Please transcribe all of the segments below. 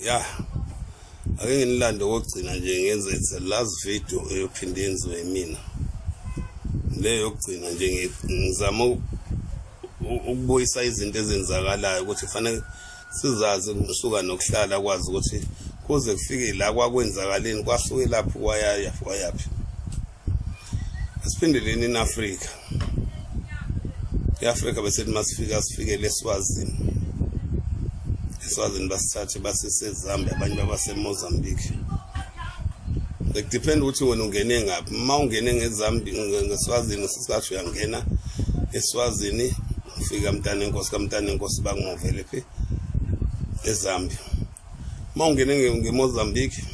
ya ake nginilande kokugcina nje ngenze the last video eyophinde yenziwe mina le yokugcina nje ngizama ukubuyisa izinto ezenzakalayo ukuthi kufanele sizazi ukusuka nokuhlala kwazi ukuthi kuze kufike la kwakwenzakaleni kwasuke laphi kwayaya kwayaphi asiphindeleni in-afrika iAfrika besethi masifika sifikele eSwazini eSwazini basithathe basesezambia abanye babaseMozambique it depend ukuthi wena ungene ngaphi uma ungene ngezambia ngeswazini sisasho uyangena eswazini ufika mntana enkosi kamntana enkosi bakungovele phi ezambia uma ungene ngemozambique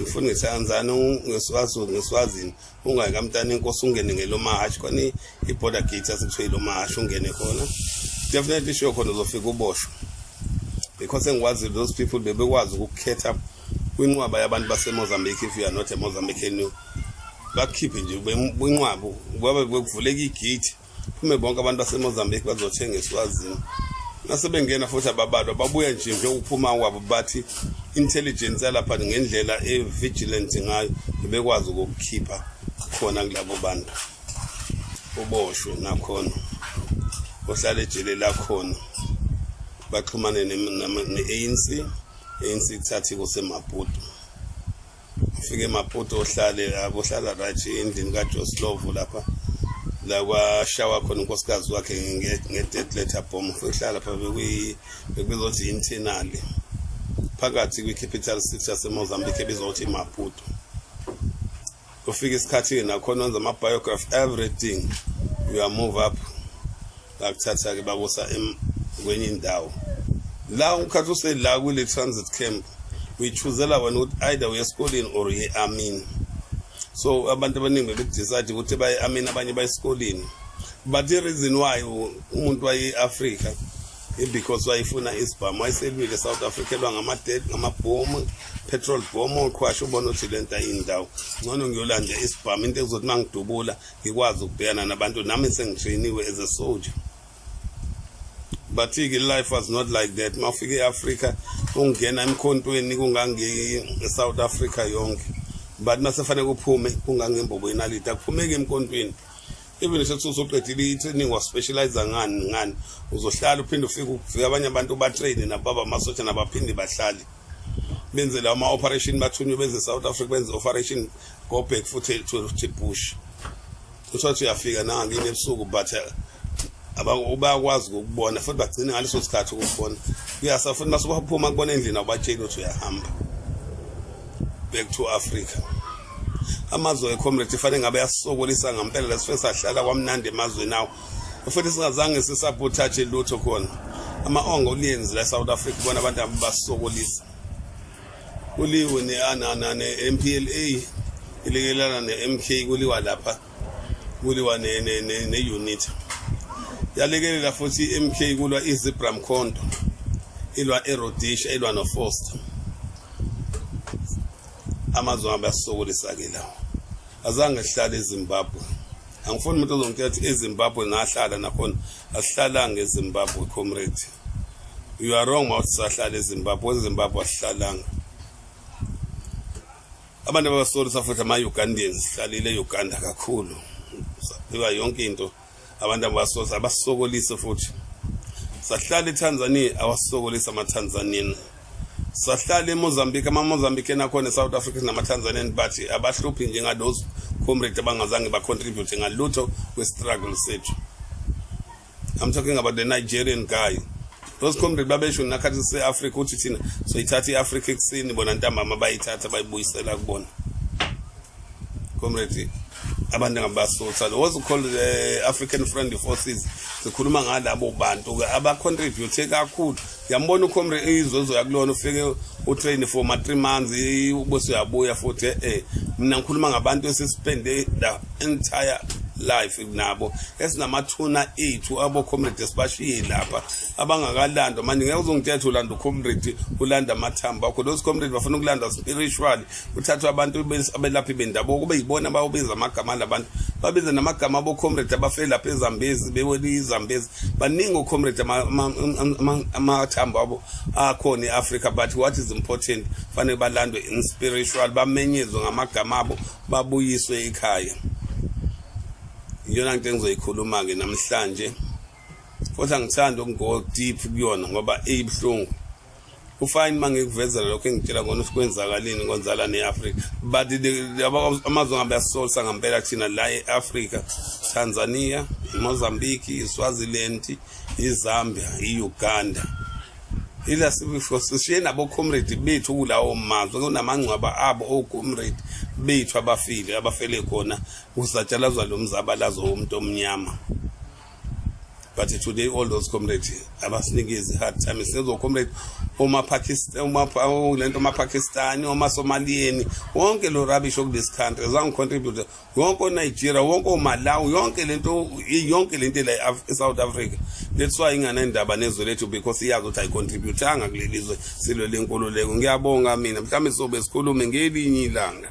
ngifuna ngiseyanzani ngeswazi ngeswazini ungayi kamntana enkosi ungene ngelomahashi khona i-border gate asikuthiwa ilomahashi ungene khona definitely sure khona uzofika uboshwa because engikwazi those people bebekwazi ukukhetha kwinqwaba yabantu basemozambique if you are not a mozambican bakukhiphe nje kwinqwaba kwabe bekuvuleka igate phume bonke abantu basemozambique bazothenga eswazini nasebengena futhi ababalwa babuya nje njengokuphuma kwabo bathi intelligence yalapha ngendlela e-vigilant ngayo bebekwazi ukukukhipha khona kulabo bantu uboshwe nakhona ohlala ejele lakhona baxhumane ne-anc ANC kuthathi kusemaputo ufike maputo ohlale lapho ohlala right endlini kajoslovo lapha la kwashawa khona unkosikazi wakhe nge-dead letter bomb uhlala lapha bekuzothi internali phakathi kwi-capital six yasemozambique ebizothi maputo kufika isikhathi-ke nakhona wenza ama-biography everything you are move up ngakuthatha-ke bakusa kwenye indawo la ukhathi usela kule transit camp uyichuzela wena ukuthi either uye esikoleni or uye amini so abantu abaningi bebekudecide ukuthi baye amini abanye baye esikoleni but the reason why umuntu waye-afrika because wayefuna isibhamu wayeselwile south africa elwa ngamabhomu petrol bom oqhwasha ubona ukuthi le nto ayindawo ngcono ngiyolanda isibhamu into ekuzothi uma ngidubula ngikwazi ukubhekana nabantu nami sengitrainiwe as a soldier bathi-ke life was not like that uma ufika e-afrika ungena emkhontweni kungange-south africa yonke but uma sefanele kuphume kungangembobo yenaliti akuphumeki emkhontweni even isethi uzoqedile i-training waspecializa ngani ngani uzohlala uphinde ufike ufike abanye abantu batrayine nababa amasosha nabaphinde bahlale benzele ama operation bathunywe benze South Africa benze operation go back futhi to the bush usathi uyafika na ngine ebusuku but eh, bayakwazi ukubona futhi bagcine ngaleso sikhathi ukubona kuyasa futhi masubaphuma kubona endlini awubatsheli ukuthi uyahamba back to Africa amazwe ecomrade fanele ngabe yasokolisa ngempela lesifeni sahlala kwamnandi emazweni awo futhi singazange sisabotage lutho khona ama-ongo uliyenzi la south africa bona abantu abasokolisa kuliwe ne-m p l a ilekelana ne-m k kuliwa lapha kuliwa ne-unit yalekelela futhi i-m k kulwa izibra mkhondo ilwa erodisha ilwa nofoster amazwe abasokolisa-ke lawo azange hlale ezimbabwe angifuni umuntu ozongitshela ukuthi ezimbabwe ngahlala nakhona asihlalanga ezimbabwe comrade you are wrong mawuthi sahlala ezimbabwe ezimbabwe asihlalanga abantu ababasolisa futhi ama-ugandans sihlalile e-uganda kakhulu saphiwa yonke into abantu ababasolisa abasokolise futhi sahlala etanzania awasokolisa amatanzanian sahlala eMozambique amaMozambican akhona eSouth Africa sinamaTanzanian bathi abahluphi njenga those comrade abangazange bacontribute ngalutho kwestruggle sethu I'm talking about the Nigerian guy those comrade babesho nakhathi sise-africa ukuthi thina soyithatha i-africa ekuseni bona ntambama bayithatha bayibuyisela kubona comrade abantu angabasutha lo was called the African Friendly Forces sikhuluma ngalabo bantu ke aba contribute kakhulu yambona ucomrade izozo yakulona ufike utrain for ma 3 months ubese uyabuya futhi eh mina ngikhuluma ngabantu esisipende the entire life nabo esinamathuna ethu abo comrade sibashiye lapha abangakalandwa manje ngeke uzongithetha ulanda ucomrade ulanda amathamba akho those comrade bafuna ukulanda spiritual kuthathwe abantu abelaphi bendabuko kube yibona abayobiza amagama alabantu babize namagama abocomrade abafele lapha ezambezi bewele izambezi baningi ocomrade amathambo abo akhona e-africa but what is important fanele balandwe in spiritual bamenyezwe ngamagama abo babuyiswe ekhaya iyona nto engizoyikhuluma-ke namhlanje futhi angithandi ukungo deep kuyona ngoba iyibuhlungu ufine uma ngikuvezela lokho engitshela ngona ukuthi kwenzakalini konzala ne-afrika but amazwe ngabe asisolisa ngampela thina la e-afrika tanzania imozambique iswaziland izambia i-uganda ila sishiye nabocomrade bethu kulawo mazwe kunamangcwaba abo ocomrade bethu abafile abafele khona kusatshalazwa lo mzabalazo womuntu omnyama but today all those comrades abasinika izi-hard time sizocomrade lento omapakistani omasomaliyeni wonke lo rubbish okulesi country zangicontribute yonke onigeria wonke omalawi yonke lento yonke lento la esouth africa that's why inganendaba nezwe lethu because iyazi ukuthi ayicontributanga kuleli zwe silwe lenkululeko ngiyabonga mina mhlawumbe sizobe sikhulume ngelinye ilanga